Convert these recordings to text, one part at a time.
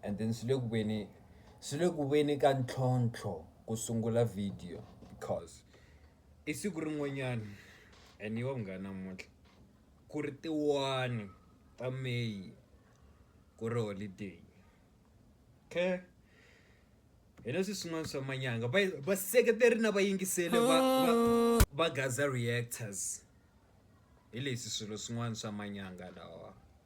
and then swi le ku veni swi le ku veni ka ntlhontlho ku sungula video because i siku rin'wanyana and yo munghana namuntlha ku ri tiwani ta May ku ri holiday okay hi leswi swin'wana swa manyanga va va seketeri na vayingiseli va va va gaza reactors hi leswi swilo swin'wana swa manyanga lawa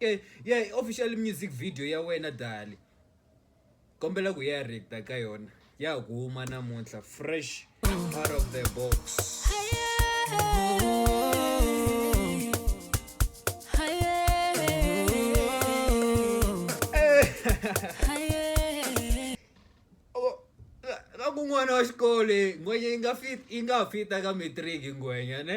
ke ya yeah, official music video ya wena dali kombela ku ya reacta ka yona ya huma namuntlha fresh out of the box kun'wana wa xikolo ngwenya yi nga fit yi nga fita ka matric ngwenya ne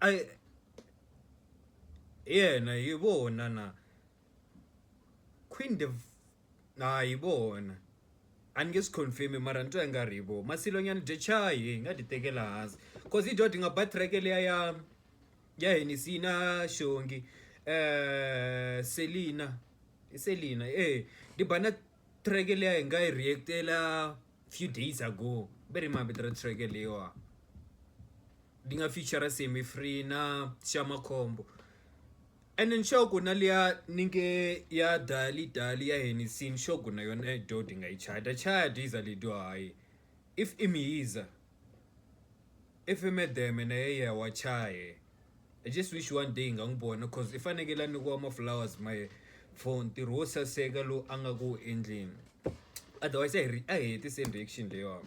I hi yena hi vona na Queen Div na hi vona a ni nge swi confirm mara ni twa i nga ri hi vona Masilo Nyana Decay hi nga ti tekela hansi cause hi dyondzo hi nga ba track liya ya ya Hennessy na xongi Selina i Selina eya ni ba na. track liya hi nga yi react-ela few days ago va ri i mavito ya track leyiwa yi nga feature Semi Free na Sha Makhombo ene nxavo ku na liya ni nge ya Dali Dali ya Hennessy nxavo ku na yona ya dooh ni nga yi chaya ni ta chaya diesel ya dooh hayi if i Mhizha. I fimedeme na ye ya wa chaya I just wish one day hi nga n'wi vona coz i fanekele a nyikiwa ma flowers ma ye for ntirho wo saseka lowu a nga ku endleni otherwise a hi a hi hetiseni reaction leyiwani .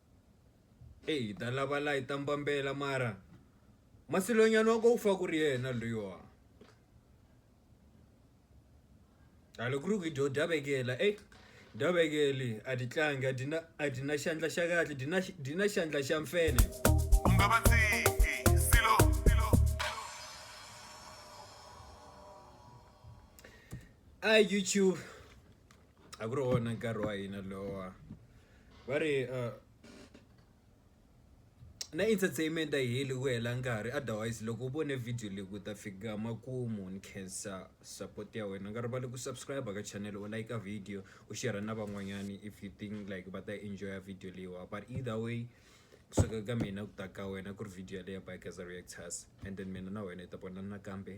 Eyi hi ta lava la hi ta mbambela mara masilonyana wa ko u fa ku ri yena luya a loko ku ri ku hi dyo dya vekela eyi dya vekeli a ti tlangi a ti na a ti na xandla xa kahle ti na ti na xandla xa mfele u nga va tshiki silo silo a youtube a ku ri wona nkarhi wa hina lowa va ri na entertainment a yi heli ku hela nkarhi otherwise loko u vone video leyi ku ta fika makumu ni khensa support ya wena nga rivali ku subscribe ka channel u like video u share na van'wanyani if you think like va ta enjoy video leyiwa but either way kusuka ka mina ku ta ka wena ku ri video yaleyo by Geza Reactors and then mina na wena hi ta vonana nakambe.